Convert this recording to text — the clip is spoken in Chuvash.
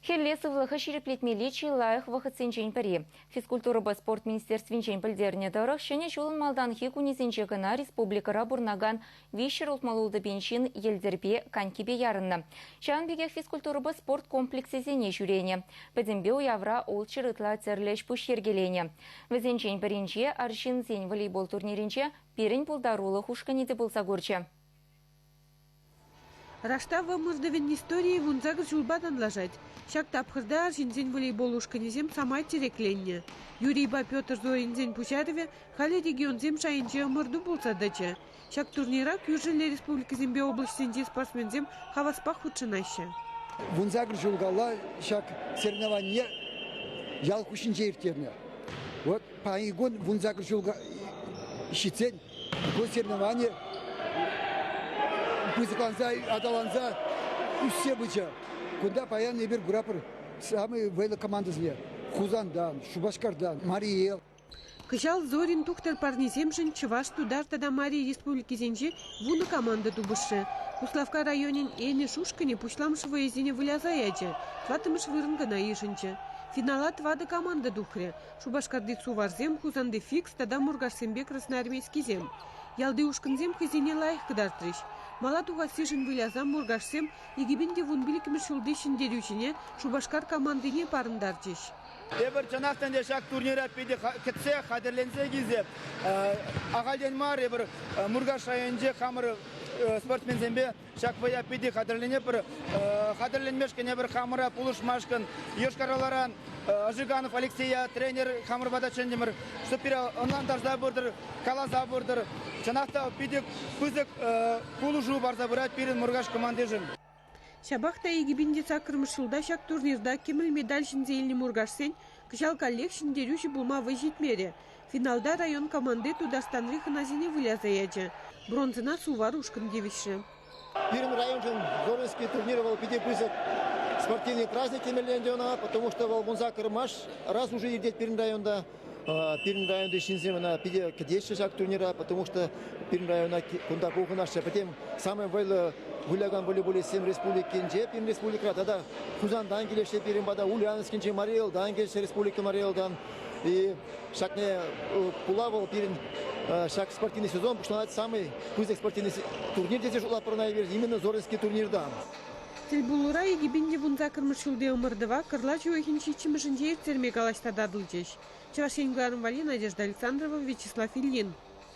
Хӗлле сывлӑхӗ ҫирӗплетмелли чи лайӑх вӑхӑтсенчен пӗри. Физкультурӑпа спорт министерствинчен пӗлтернӗ тӑрӑх, Ҫӗнӗ ҫулӑн малтанхи кунӗсенче кӑна республикӑра пурӑнакан виҫҫӗр ултмалла утӑпен ҫын йӗлтӗрпе, конькипе ярӑннӑ. Ҫавӑн пекех физкультурӑпа спорт комплексӗсене ҫӳренӗ. Пӗтӗмпе уявра ултҫӑр ытла тӗрлӗ ӗҫ-пуҫ йӗркеленӗ. Вӗсенчен пӗринче арҫынсен волейбол турнирӗнче пирӗн пултарулӑх ушкӑнӗ те пулса курчӗ. Раштав ӑмӑртӑвӗн историйӗ вунсакӑр ҫулпа танлашать. Ҫак тапхӑрта арҫынсен волейбол ушкӑнӗсем самай тӗрекленнӗ. Юрийпа Петр Зоринсен пуҫарӑвӗ халӗ регионсем шайӗнче ӑмӑрту пулса тӑчӗ. Ҫак турнира кӳршӗлле республикӑсемпе облаҫсенчи спортсменсем хаваспах хутшӑнаҫҫӗ. Вунсакӑр ҫул кала ҫак соревнование ял хушшинче ирттернӗ. Вот паянхи кун вунсакӑр ҫул ҫитсен ку соревновани пысӑкланса, аталанса ӳссе пычӗ. Кунта паян эпир куратпӑр самые вӑйлӑ командӑсене. Хусантан, Шупашкартан, Мари Эл. Кӑҫал Зорин тухтӑр парнисемшӗн Чӑваш-Тутар тата Мари Республикисенче вунӑ команда тупӑшрӗ. Куславкка районӗн Энӗш ушкӑнӗ пуҫламӑш вӑйӑсене выляса ячӗ, тӑваттӑмӗш вырӑн кӑна йышӑнчӗ. Финала тӑватӑ команда тухрӗ. Шупашкарти суварсем, Хусанти Фикс тата Муркашсемпе Красноармейскисем. Ялти ушкӑнсем хӑйсене лайӑх кӑтартрӗҫ. Мала тухассишӗн выляса Муркашсем икӗпин те вун пиллӗкмӗш ҫулти ҫӗнтерӳҫӗне Шупашкар командине парӑнтарчӗҫ. Тепӗр чӑнах та ӗнтӗ ҫак турнира питӗ кӗтсе хатӗрленсе килсе ахальтен мар эпир Муркаш районӗнче хамӑр спортсменсемпе Ҫак вӑя питӗ хатӗрленепӗр. Хатӗрленмешкӗн эпир хамӑра пулӑшмашкӑн Йошкар-Оларан Ожиганов Алексея тренер хамӑр пата чӗнтӗмӗр. Чтобы пире ӑнлантарса пыртӑр, каласа пыртӑр. Чӑнах та питӗ пысӑк пулӑшу парса пырать пирӗн Муркаш командишӗн. Ҫапах та икӗ пин те саккӑрмӗш ҫулта ҫак турнирта кӗмӗл медаль ҫӗнсе илнӗ муркашсен Кӑҫал каллех ҫӗнтерӳҫӗ пулма вӑй ҫитмерӗ. Финалта район команди Тутарстанри хӑнасене выляса ячӗ. Бронзӑна Сувар ушкӑн тивӗҫрӗ. Пирӗн районшӑн Горненский турнир вӑл питӗ пысӑк спортивный праздник темелле ӗнтӗ ӑна, потому что вӑл вун сакӑрмаш раз уже иртет пирӗн районта. Пирӗн районти ҫынсем ӑна питӗ кӗтеҫҫӗ ҫак турнира, потому что пирӗн района кунта пухӑнаҫҫӗ. Пӗтем самый вӑйлӑ вылякан волейболистсем республикинче, пирӗн республикӑра тата Хусантан килеҫҫӗ пирӗн пата, Ульяновскинчи Мари Элтан килеҫҫӗ республика Мари Элтан. И ҫакне пула вӑл пирӗн ҫак спортивный сезон пуҫланать самый пысӑк спортивный турнир тесе шутлатпӑр именно Зоринский турнирта. Тӗлпулура икӗ пин те вунсаккӑрмӗш ҫулти ӑмӑртӑва кӑрлач уйӑхӗн ҫиччӗмӗшӗнче ирттерме калаҫса татӑлчӗҫ Чӑваш Ен кӑларӑм валли Надежда Александрова, Вячеслав Ильин.